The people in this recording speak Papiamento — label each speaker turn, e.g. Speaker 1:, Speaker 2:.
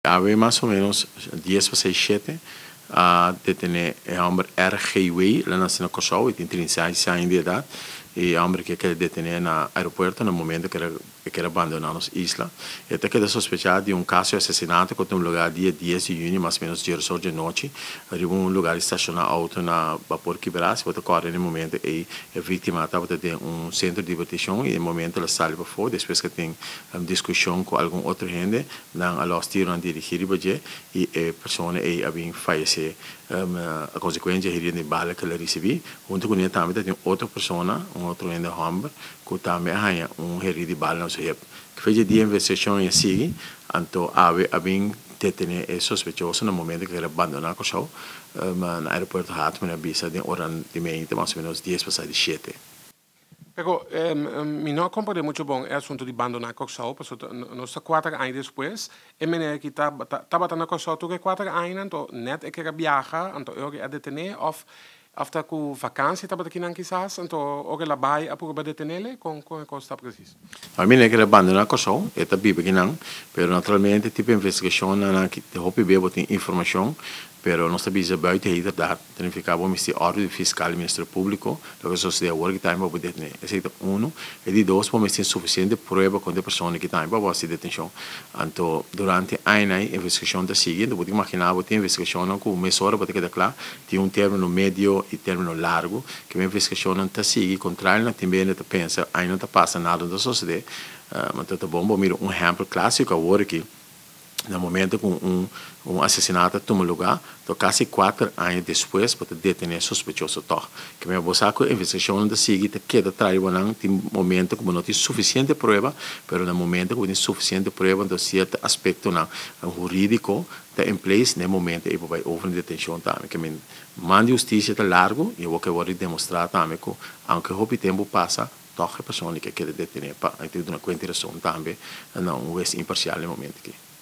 Speaker 1: Awe mas o menos dies pa sei shete a detene e homber R. G. Wei, el a naci na Kòrsou, e tin trinta i seis aña di edad, e homber aki a keda detene na aeropuerto na momento ku e keda bandona nos isla. E ta keda sospechá di un kaso di asesinato ku a tumb'e lugá dia dies di yuni mas o menos dies ocho di anochi riba un lugá di stashoná outo na Bapor Kiberá. Si bo ta kòrda na e momento ei e víktima a tabata den un sentro di dibertishon i den e momento el a sali pafó despues ku a tin diskushon ku algun otro hende. Nan a lòs tiro nan dirigí riba dje i e persona ei a bin fayesé a konsekuensia herido di bala ku el a risibí. Huntu ku ne tambe ta tin otro persona, un otro hende hòmber, ku tambe a haña un herido di bala na su hep. Kafé dje dia investigashon ei a sigui, anto awe a bin detené e sospechoso na momento ku el a bandoná Kòrsou na aeropuerto Hartmann, a bisa den ora di meinte, mas o ménos dies pasá di shete. Pero
Speaker 2: mi no a comprende mucho bon e asunto di bandoná Kòrsou, pasobra ta nos ta kuater aña despues, e mene aki ta tabata na Kòrsou tur e kuater añanan tò, nèt e kere a biaha, anto e ora e a detené òf ta ku vakansia tabata kinan kisas, anto ora el a bai a purba detenele? Kon kon e kos ta presis? Famia ke lo
Speaker 1: bandona Kòrsou e ta biba aki nan, pero naturalmente e tipo di investigashon nan a kita hopi be bo tin informashon, pero nos ta bisa buiten e hiderdat, ta nifiká bo misti òrdu di fiskal i ministerio públiko, loke ta sosodé awor aki ta haña pa bo detené. Esei ta unu, i di dos bo misti tin sufisiente prueba kontra e persona aki ta haña pa bo hasi detenshon. Anto durante e añanan ei investigashon ta sigui, anto bo ta imaginá bo tin investigashonnan ku mesora bo ta keda kla Tin un termino medio y termino largo ke mi invesgacionnan ta sigui, contrario na tin bende ta pensa ay no ta pasa nada no ta sosode, ma ta ta bon bo mira un ehempel clasico awor aki, na momento cu un un asesinato a tuma lugar to casi cuater aña despues bo ta detene sospechoso tog. Ke manera bo sa cu invesgacionnan ta sigui ta keda traha di bo nan tin momento cu bo no tin suficiente prueba, pero na momento cu bo tin suficiente prueba entonces cierto aspectonan juridico ta en place na e momento ey pa bay over na detencion tambe ke men man di husticia ta largo y awor ke worde demostra tambe cu aunke hopi tempo pasa toch e persoon ey ke keda detene pa ey tin duna cuenta y razon tambe na un huez imparcial na e momento aki.